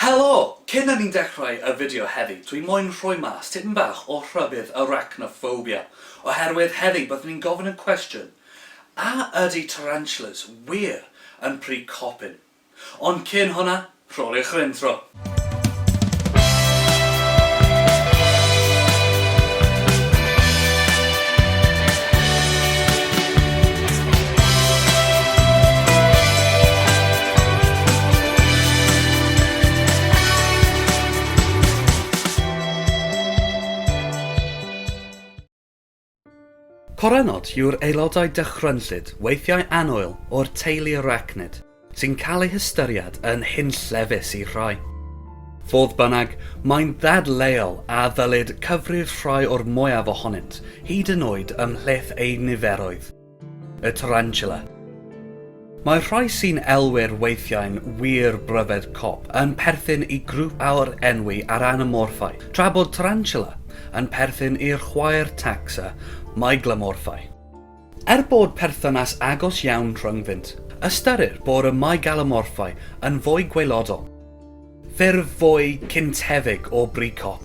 Helo! Cyn i ni ddechrau y fideo heddi, dwi moyn rhoi mas tipyn bach o rhybudd arachnophobia, oherwydd heddi byddwn ni'n gofyn y cwestiwn, a ydy tarantulas wir yn pry copyn? Ond cyn hwnna, rholiwch yr intro! Coronod yw'r aelodau dychrynllyd, weithiau anwyl, o'r teulu arachnid, sy'n cael eu hystyried yn hunllefus i rhai. Fodd bynnag, mae'n ddadleuol a ddylid cyfrif rhai o'r mwyaf ohonynt, hyd yn oed ymhlith eu niferoedd. Y Tarantula. Mae rhai sy'n elwi'r weithiau'n wir bryfed cop yn perthyn i grŵp aur enwi ar anamorffau, tra bod Tarantula yn perthyn i'r chwaer tacsa meiglomorffau. Er bod perthynas agos iawn rhyngddynt, ystyrir bod y meigalomorffau yn fwy gwaelodol, ffurf fwy cyntefig o bri cop.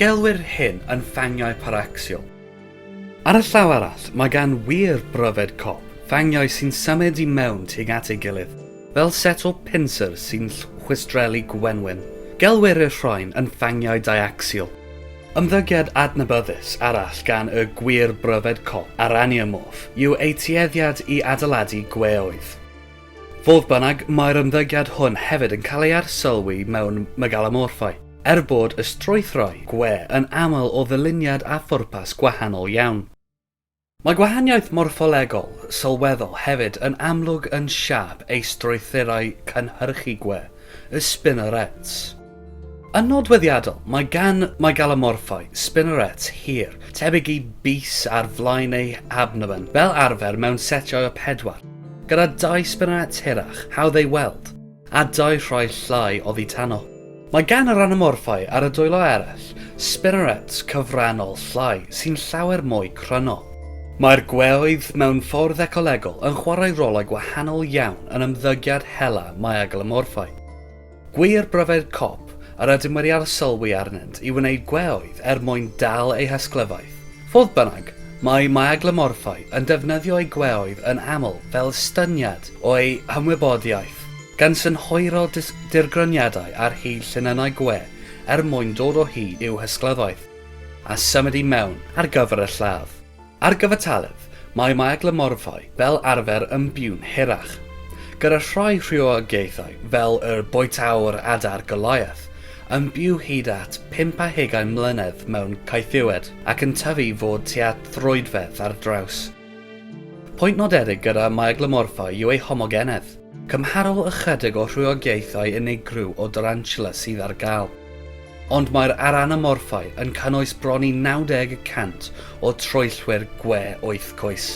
Gelwir hyn yn fangiau paracsial. Ar y llaw arall, mae gan wir bryfed cop fangiau sy'n symud i mewn tuag at ei gilydd, fel set o pinsir sy'n chwistrellu gwenwyn. Gelwir y rhain yn fangiau diacsial. Ymddygiad adnabyddus arall gan y gwir bryfed cop, Araneomorph, yw eu tueddiad i adeiladu gweoedd. Fodd bynnag, mae'r ymddygiad hwn hefyd yn cael ei arsylwi mewn megalamorffau, er bod y strwythurau gwe yn aml o ddyluniad a phwrpas gwahanol iawn. Mae gwahaniaeth morffolegol sylweddol hefyd yn amlwg yn siâp ei strwythurau cynhyrchu gwe, y spinnerets. Yn nodweddiadol, mae gan Mygalomorphae spinnerets hir, tebyg i bys ar flaen eu habnomen, fel arfer mewn setiau o pedwar, gyda dau spinnerets hirach, hawdd eu weld, a dau rhai llai oddi tano. Mae gan yr Anomorphae ar y dwylo eraill spinnerets cyfrannol llai sy'n llawer mwy cryno. Mae'r gweoedd mewn ffordd ecolegol yn chwarae rolau gwahanol iawn yn ymddygiad hela Mygalomorphae. Gwir bryfed cop yr ydym wedi arsylwi arnynt i wneud gweoedd er mwyn dal eu hysglyfaeth. Fodd bynnag, mae myaglymorffau yn defnyddio eu gweoedd yn aml fel estyniad o'u hymwybodiaeth, gan synhwyro dirgryniadau ar hyd llinynnau gwe er mwyn dod o hyd i'w hysglyfaeth a symud i mewn ar gyfer y lladd. Ar gyfartaledd, mae meiaglymorffau fel arfer yn byw'n hirach. Gyda rhai rhywogaethau, fel yr bwytäwr adar Goliath, yn byw hyd at pump a hugain mlynedd mewn caethiwed ac yn tyfu i fod tua throedfedd ar draws. Pwynt nodedig gyda meiaglymorffau yw eu homogenedd, cymharol ychydig o rhywogaethau unigryw o darantula sydd ar gael. Ond mae'r aranomorffau yn cynnwys bron i 90 y cant o troellwyr gwe oethcoes.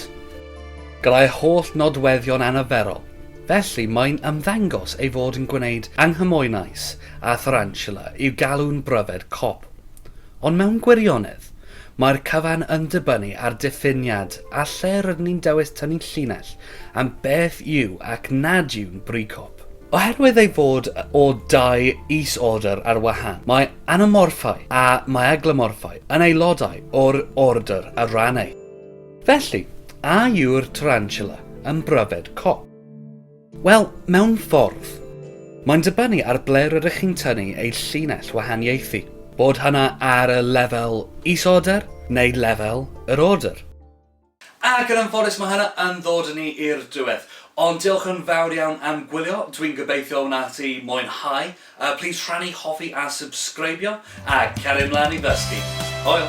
Gallai holl nodweddion anarferol, felly, mae'n ymddangos ei fod yn gwneud anghymwynais â tharantula i'w galw'n bryfed cop. Ond mewn gwirionedd, mae'r cyfan yn dibynnu ar diffiniad a lle rydyn ni'n dewis tynnu llinell am beth yw ac nad yw'n bri cop. Oherwydd ei fod o dau is-ordr ar wahân, mae anamorffau a maeaglymorffau yn aelodau o'r ordr ar ran eu. Felly, a yw'r tarantula yn bryfed cop? Wel, mewn ffordd. Mae'n dibynnu ar ble rydych chi'n tynnu eu llinell wahaniaethu, bod hynna ar y lefel is-ordr neu lefel yr ordr. Ac yn anffodus mae hynna yn ddod â ni i'r diwedd. Ond diolch yn fawr iawn am gwylio, dwi'n gobeithio wnât ti mwynhau, yy plîs rhannu, hoffi a subscribio, a cario mlaen i ddysgu. Hwyl!